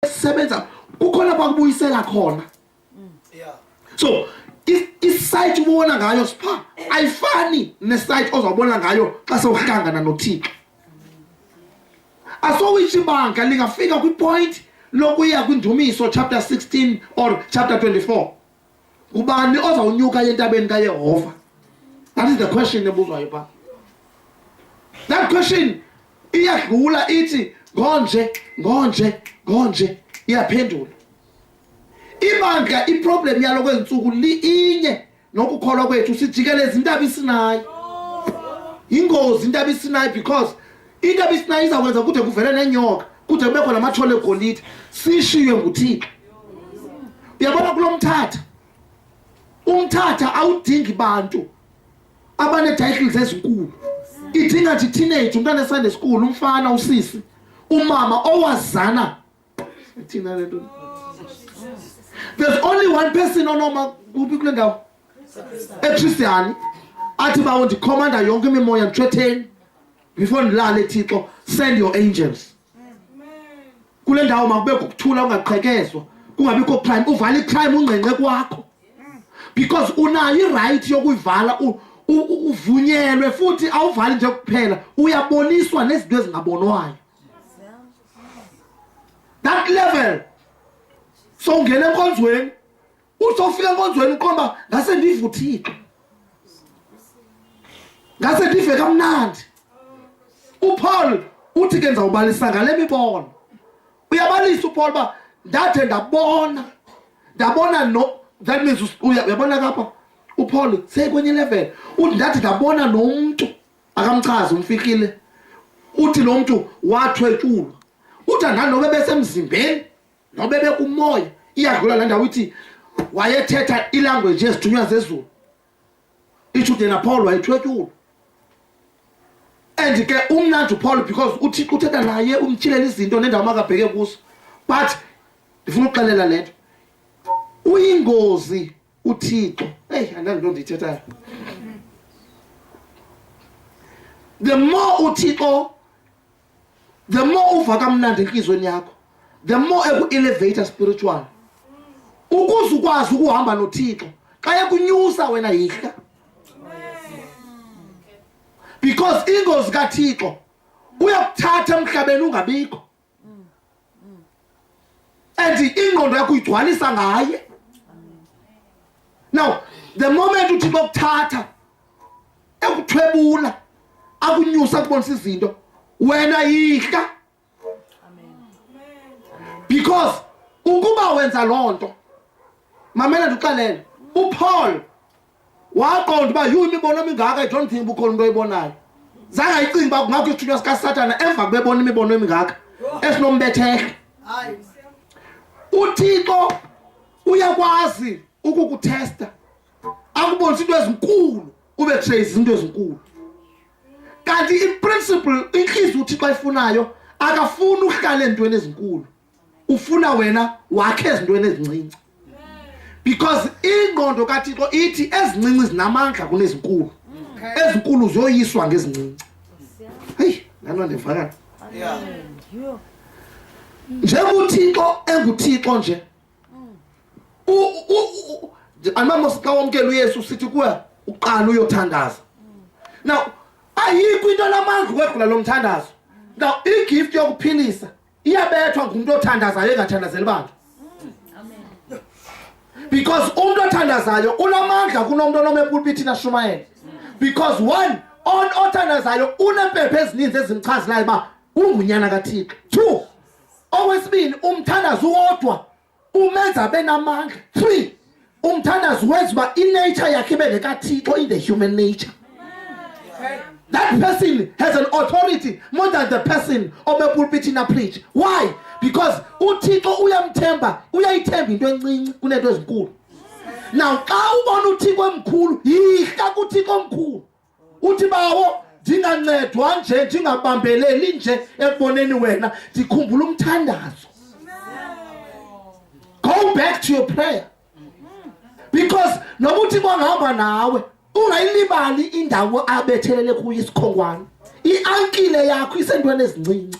esisebenza kukhona kwakubuyisela khona so isayiti ubona ngayo sipha ayifani nesayiti ozawubona ngayo xa sewuhlangana nothixo asowitshi ibanga lingafika kwipoint lokuya kwindumiso chapter 16 or chapter 24 ubani ozawunyuka entabeni kayehova that is the question ebuzwayo phaa that question iyadlula ithi ngonje ngonje ngonje iyaphendula ibandla iproblem yalo kwezintsuku liyinye nokukholwa kwethu sijikeleza intaba isinayo yingozi intaba isinayo because into ebisinayo izakwenza kude kuvele nenyoka kude kubekho namathole egolide sishiywe nguthixo uyabona kulo mthatha umthatha awudingi bantu abanee-titles ezinkulu idinga nje iteenage umntana esande school umfana usisi umama owazana thina le nto there's only one person onoma kuphi kule ndawo ekristiyani athi bawo ndikhomanda yonke imimoya ndithwetheni before ndilale thixo send your angels kule ndawo makube kukuthula ungaqhekezwa kungabikho crime uvala icrime ungqenqe kwakho because unayo iright yokuyivala uvunyelwe futhi awuvali nje kuphela uyaboniswa nezinto ezingabonwayo that level sowungena enkonzweni usofika enkonzweni uqomba ngase ndive uthixo ngase ndive kamnandi upaul uthi ke ndizawubalisa ngale mibono uyabalisa upaul uba ndathe ndabona ndabona no that means uyabona kapha upaul sekwenye level uthi ndathi ndabona nomntu akamchazi umfihlile uthi lo mntu wathwetshulwa uthi andani nobe besemzimbeni nobe bekumoya iyadlula la ndawo ithi wayethetha ilanguage yezithunywa zezulu ishude napholo wayethwetshulwa and ke umnandi upholo because uthi uthetha naye umtshilela izinto nendawo makabheke kuso but ndifuna ukuxelela le nto uyingozi uthixo eyi andandinto ndiyithethayo the more uthixo the more uva kamnandi entliziyweni yakho the more eku-elevator spiritual ukuze ukwazi ukuhamba nothixo xa ekunyusa wena yihla because ingozi kathixo uyakuthatha emhlabeni ungabikho and ingqondo yakho uyigcwalisa ngaye now the moment uthi bokuthatha ekuthwebula akunyusa kubonisa izinto wena yihla because ukuba wenza loo nto mamela ndixelele upaul waqonda uba yhu imibono emingaka ijohn think uba ukhona into oyibonayo zange ayicinga uba kungakho isithunywa sikasatana emva kubebona imibono emingaka esinombethehla uthixo uyakwazi ukukuthesta akubonisa into ezinkulu ube trace into ezinkulu kanti iprinciple inhliziyo uthixo ayifunayo akafuni uhlala entweni ezinkulu ufuna wena wakhe ezintweni ezincinci because ingqondo kathixo ithi ezincinci zinamandla kunezinkulu ezinkulu ziyoyiswa ngezincinci heyi lano ndivakala njenguthixo enguthixo nje andibamos xa wamkela uyesu sithi kuwe uqala uyothandaza now ayikho into namandla ukwedlula lo mthandazo now igift yokuphilisa iyabethwa ngumntu othandazayo engathandazeli bantu because umntu othandazayo unamandla kunomntu onoma epulpithini ashumayele because one on othandazayo unempepha ezininzi ezimchazelayo uba ungunyana kathixo two okwesibini umthandazi uwodwa umenza abe namandla three umthandazi wenza uba inature yakhe ibe nekathixo in the human nature that person has an authority more than the person obepulpithini apreach why because uthixo uyamthemba uyayithemba into encinci kuneento ezinkulu now xa ubona uthixo emkhulu yihla kuthixo omkhulu uthi bawo ndingancedwa nje ndingabambeleli nje ekuboneni wena ndikhumbula umthandazo go back to your prayer because noba uthi kwangihamba nawe ungayilibali indawo abethelele kuyo isikhongwane iankile yakho isentweni ezincinci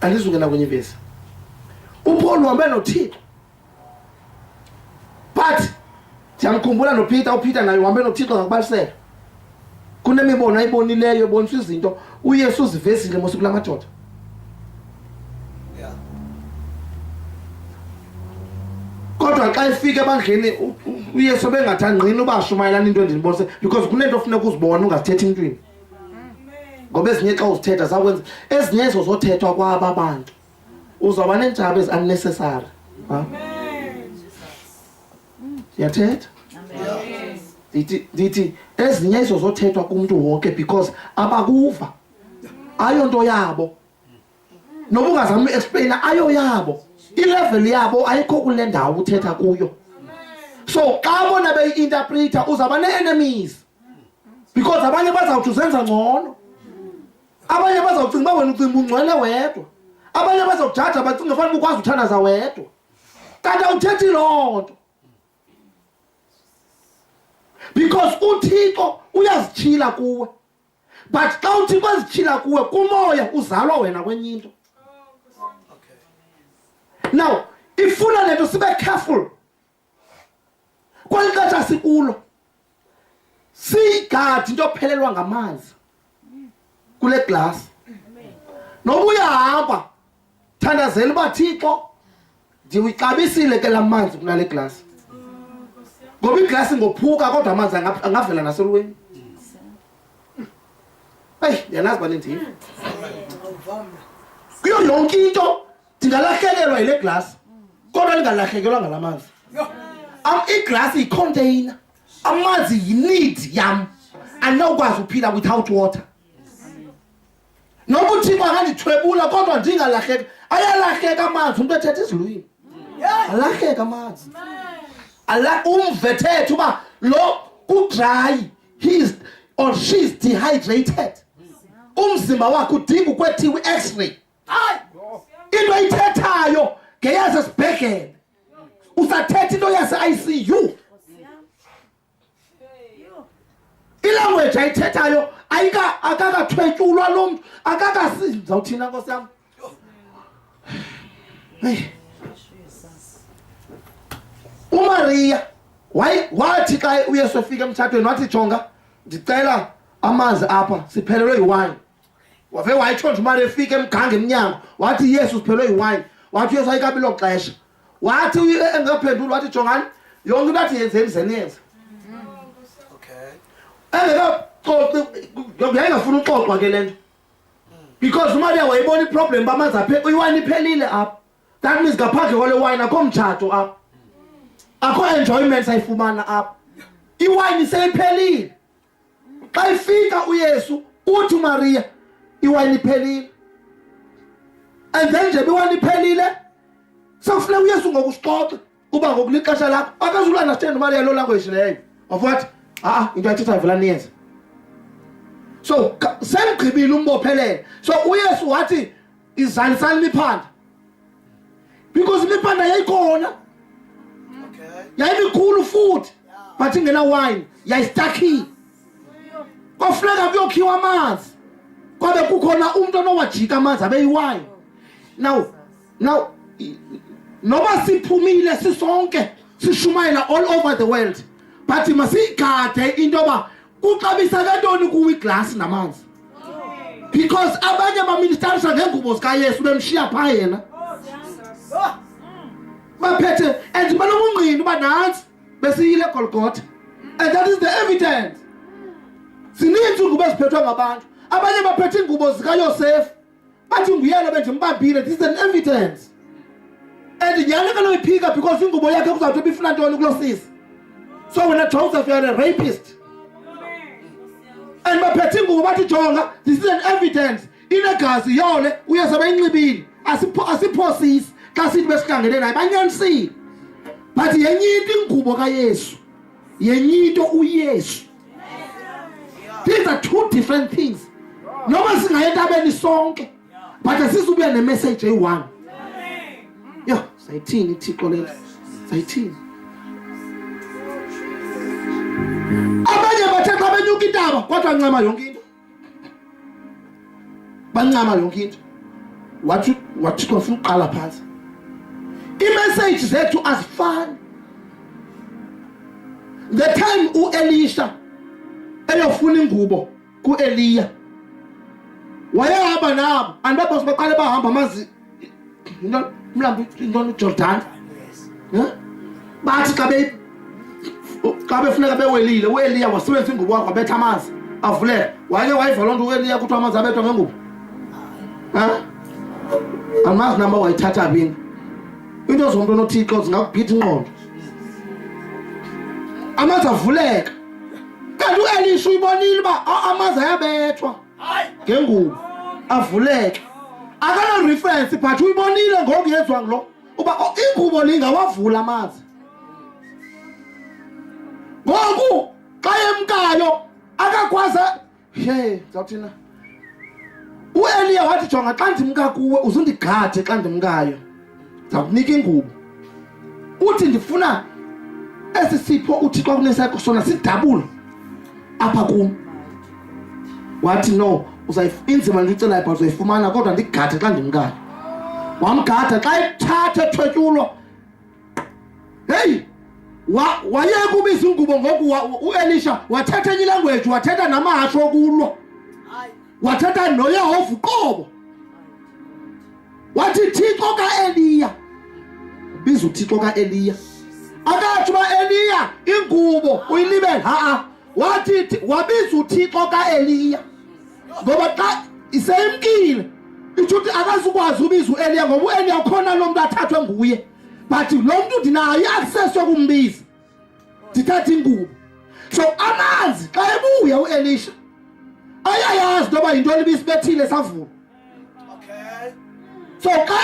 andizungena kwenye ivesi uPaul uhambe noThixo but ndiyamkhumbula noPeter uPeter naye uhambe noThixo ngakubalisela kunemibono ayibonileyo ebonisa izinto uYesu uzivesile mose kula madoda kodwa xa efika ebandleni uyesu bengathi angqini ubashumayelana into endinibonise because kunento ofuneka uzibone ungazithethi intwini ngoba ezinye xa uzithetha zakwenza ezinye ezo zothethwa kwaba abantu uzawuba neentshaba ezi-unnecessary yathetha ndithi ndithi ezinye izo zothethwa kumntu wonke because abakuva ayonto yabo noba ungazama uexplaina ayo yabo ilevel yabo ayikho kule ndawo uthetha kuyo so xa bona beyi-interpreter uzawuba nee-enemies because abanye bazawuthi uzenza ngcono abanye bazawucinga uba wena ucinga ungcwele wedwa abanye bazokujaja bacinga fanele uba ukwazi uthandaza wedwa kanti awuthethi loo nto because uthixo uyazityhila kuwe but xa uthi bazityhila kuwe kumoya uzalwa wena kwenye into now ifuna le nto sibe careful kweli xesha sikulo siyigadi into ophelelwa ngamanzi kule glasi noba uyahamba thandazela uba thixo ndiwixabisile ke la manzi kunale glasi ngoba iglasi ngophuka kodwa amanzi angavela naselweni eyi ndiyanazi uba nindini kuyo yonke into ndingalahlekelwa yile glasi kodwa ndingalahlekelwa ngala manzi iglasi yicontainer amanzi yineed yam andinokwazi uphila without water noba uthixo akandithwebula kodwa ndingalahleka ayalahleka amanzi umntu ethetha izilwini alahleka amanzi umve thetha uba lo kudrayi he's or she's dehydrated umzimba wakhe udinga ukwethiwa i-x-ray into ayithethayo ngeyasesibhedlele usathetha into yase-icu ilanguage ayithethayo ayika akakathwetyulwa lo mntu akakasi ndizawuthina nkosi yam umariya wathi xa uyesu efika emtshatweni wathi jonga ndicela amanzi apha siphelelwe yiwayini wave wayitshontsha imali efika emganga emnyango wathi yesu siphelwe yiwayini wathi uyesu ayikabi lo xesha wathi engaphenduli wathi jongani yonke into athi yenzeni zeniyenze engekaxoxi yayingafuni uxoxwa ke le nto because umaria wayibona iproblem uba amanzi aphe iwayini iphelile apha that means ngaphandle kwale wayini akho mtshato apha akho enjoyment sayifumana apha iwayini seyiphelile xa ifika uyesu uthi umariya iwayini iphelile and then nje biwayini iphelile sekufuneka uyesu ngoku sixoxe uba ngoku lixesha lakho akazulandastand umariya loo language leyo of what a-a into ayithethayo vela niyenze so semgqibile umbophelele so uyesu wathi izalisa limiphanda because imiphanda yayikhona yayimikhulu futhi but ingena wine yayistakhiwe kwafuneka kuyokhiwa amanzi kwabe kukhona umuntu onowajika amanzi abeyiwine now now noba siphumile sisonke sishumayela all over the world but masiyigade into yoba kuxabisa kantoni kuwo iglasi namanzi because abanye abaministarisa ngeengubo zikayesu bemshiya phaa yena baphethe and banokunqini uba nantsi besiyile egolgotha and that is the evidence zininzi iingubo eziphethwe ngabantu abanye baphethe iingubo zikayosefu bathi nguyena bendimbambile this is an evidence and nyhani kanoyiphika because ingubo yakhe kuzawuthi bifuna ntoni kulo sisi so wena joseph youare a rapist and baphethe ingubo bathi jonga this is an evidence inegazi yole uyezabe inxibile asiphosisi xa sithi besihlangene naye banyanisile bathi yenye into ingubo kayesu yenye into uyesu these are two different things noma singaye entabeni sonke but asizubuya nemessage eyi-one yho sayithini ithixo lento sayithini abanye bathetha abenyuka intaba kodwa ncema yonke into bancama yonke into wathi wathi khona uqala phansi iimessage zethu azifani the time uElisha eyofuna ingubo kuEliya wayehamba nabo andibabose baqale bahamba amazi Ndio mlambo ndio Jordan. Eh? Bathi kabe kabe funeka bewelile, uEliya wasebenzisa ingubo yakhe wabetha amanzi. Avuleke. Wake wayiva loo nto uEliya kuthiwa amanzi abethwa ngengubo. Eh? Amazi namba wayithatha bini. Into zomntu onothixo zingakugitha inqondo. Amanzi avuleka. Kanti uElisha uyibonile uba amanzi ayabethwa. ngengubo avuleke akanarefrensi but uyibonile ngoku yenziwa ngulo uba oh, ingubo le ingawavula amazi ngoku xa yemkayo akakwazi he zawuthina ueliya wathi jonga xa ndimka kuwe uzundigade xa ndimkayo ndawunika ingubo uthi ndifuna esi sipho uthixo akunesakho sona sidabula apha kum wathi no inzima le icelayo but uzayifumana kodwa ndigade xa ndimkani wamgada xa ethatha ethwetyulwa heyi wayeka ubiza ingubo ngoku uelisha wathetha enye ilanguage wathetha namahasho okulwa wathetha noyehova uqobo wathi thixo kaeliya biza uthixo kaeliya akathi uba eliya ingubo uyilibele ha-a wathi wabiza uthixo kaeliya ngoba xa iseyimkile itsho ukuthi akazukwazi ubiza ueliya ngoba ueliya ukhona lo mntu athathwe nguye but lo mntu ndinayo i-access yokumbiza ndithathe ingubo so amanzi xa ebuya uelisha ayayazi into yoba yintoni ibisibethile savula so xa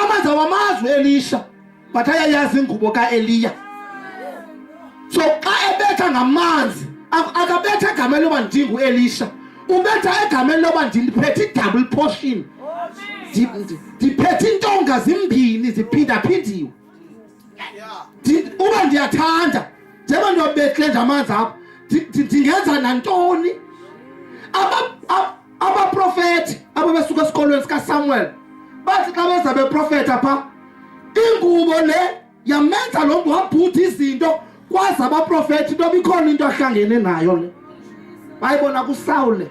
amanzi awamazi uelisha but ayayazi ingubo kaeliya so xa ebetha ngamanzi akabetha egameni loba ndinguelisha ubetha egameni loba ndiphethe i-double portion ndiphethe intonga zimbini ziphindaphindiwe uba ndiyathanda njengoba ndiyobethle nje amanzi apha ndingenza nantoni abaprofethi abo besuka esikolweni sikasamuel bathi xa beza beprofetha phaa ingubo le yamenza lo mntu wabhutha izinto kwazi abaprofeti into bikhona into ahlangene nayo le bayibona kusawule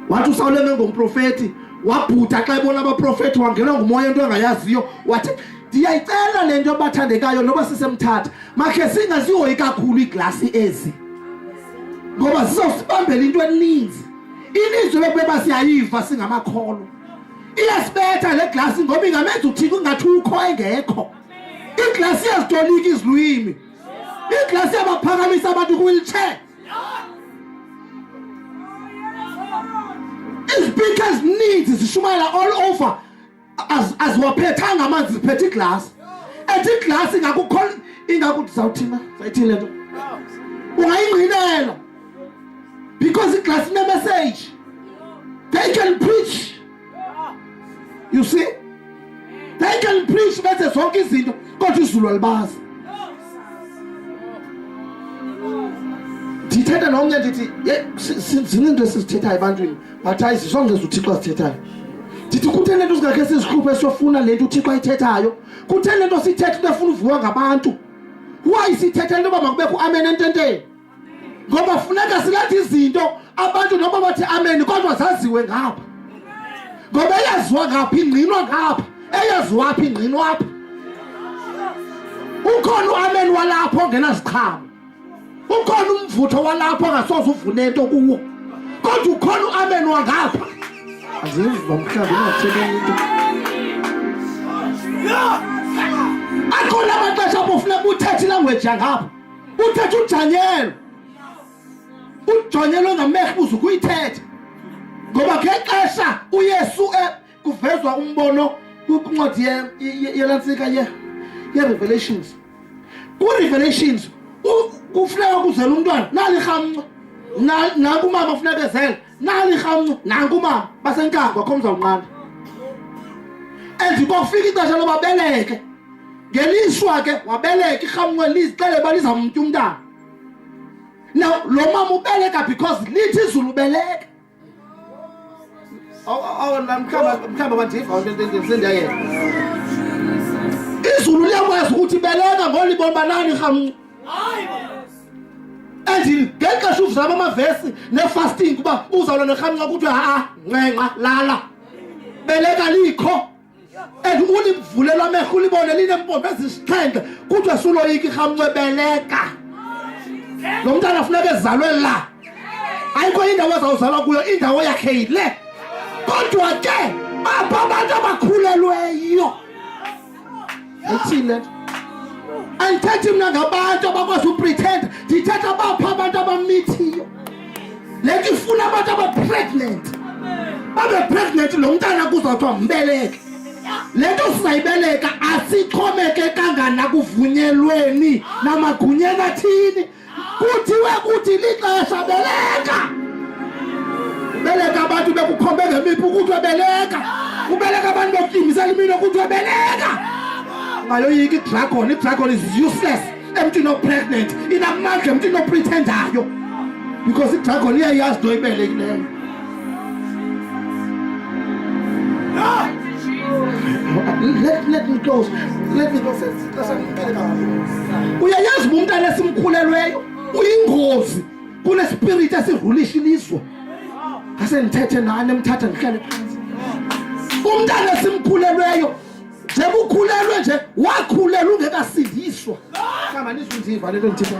wathi usawule mengumprofeti wabhuda xa ebona abaprofeti wangenwa ngumoya into engayaziyo wathi ndiyayicela le nto bathandekayo noba sisemthatha makhe singazihoyi kakhulu iiglasi ezi ngoba zizosibambela into eninzi ininzi bekubeba siyayiva singamakholwa iyasibetha le glasi ngoba ingamenza uthixo ingathi ukho engekho iiglasi ezitolika izilwimi iiglasi abaphakamisa abantu kwiwilitshe izipikha ezininzi zishumayela all over aziwaphethanga amanzi ziphethe iglasi ethi iglasi ingakukho ingakuthi zawuthina sayithini le nto ungayingqinela because iglasi inemeseji they can preach you see they can preach benze zonke izinto kodwa izulu alibazi ndithetha nomnye ndithi zininto into esizithethayo ebantwini but hayi zisongeza uthixo azithethayo ndithi kutheni le nto singakhe sizihluphe siyofuna le nto uthixo ayithethayo kutheni le nto sithetha into efuna uviwa ngabantu why sithetha into yoba makubekho amen ententeni ngoba funeka silethe izinto abantu noba bathi amen kodwa zaziwe ngapha ngoba eyaziwa ngapha ingqinwa ngapha eyaziwapha ingqinwapha ukhona uamen walapho ongenaziqhamo ukhona umvutho walapho ongasoze uvune nto kuwo kodwa ukhona uamen wangapha aziva mhlawumbi ingathebeni into akhona amaxesha apho funeka uthethe ilangweji yangapha uthetha uDaniel uDaniel ongamehlo ubuza ukuyithetha ngoba ngexesha uYesu eh, kuvezwa umbono kwincwadi yelantsika ye ye-revelations ku-revelations kufuneka kuzela umntwana nalirhamnco nakumama funeka ezele nali rhamncu nanku umama basenkangwa kho mzawunqanda and kwakufika ixesha loba beleke ngelishwa ke wabeleka irhamncu elizixele uba lizamtya umntana now lo mama ubeleka because lithi izulu ubeleka mhlawumbi bandiva sendiyayeka izulu liyakwazi ukuthi beleka ngolibona banani rhamncu ndingeke shuvu zabo amavesi nefasting uba uzawula nerhamnca kuthiwe ha-a ncenxa lala beleka likho and ulivulelwa amehlo ulibone linempompo ezisixhenxe kuthiwe suloyika irhamnce beleka lo mntana funeka ezalwe la ayikho indawo ezawuzalwa kuyo indawo yakhe yile kodwa ke apho abantu abakhulelweyo uthini le nto andithethi mna ngabantu abakwazi upretend ndithetha bapha abantu abamithiyo le nto ifuna abantu abapregnant babe pregnant lo mntana kuzawuthiwa mbeleke le nto sizayibeleka asixhomekekanga nakuvunyelweni namagunyeni athini kuthiwe kuthi lixesha beleka beleka abantu bekukhombe ngemiphi ukuthiwe beleka ubeleka abantu bekutyingisela imino kuthiwe beleka ayoyika idragon idragon is useless emntwini opregnant inamandla emntwini oprethendayo because idragon iyayazi nto ibelekileyo Let, let me close. Let me close. Uyayazi umntana esimkhulelweyo uyingozi kunespiriti esirulisha ilizwe ngase ndithethe nani emthatha ndihlale phansi umntana esimkhulelweyo njengoba ukhulelwe nje wakhulelwa ungekasindiswa kama nizunziva lento ndithetha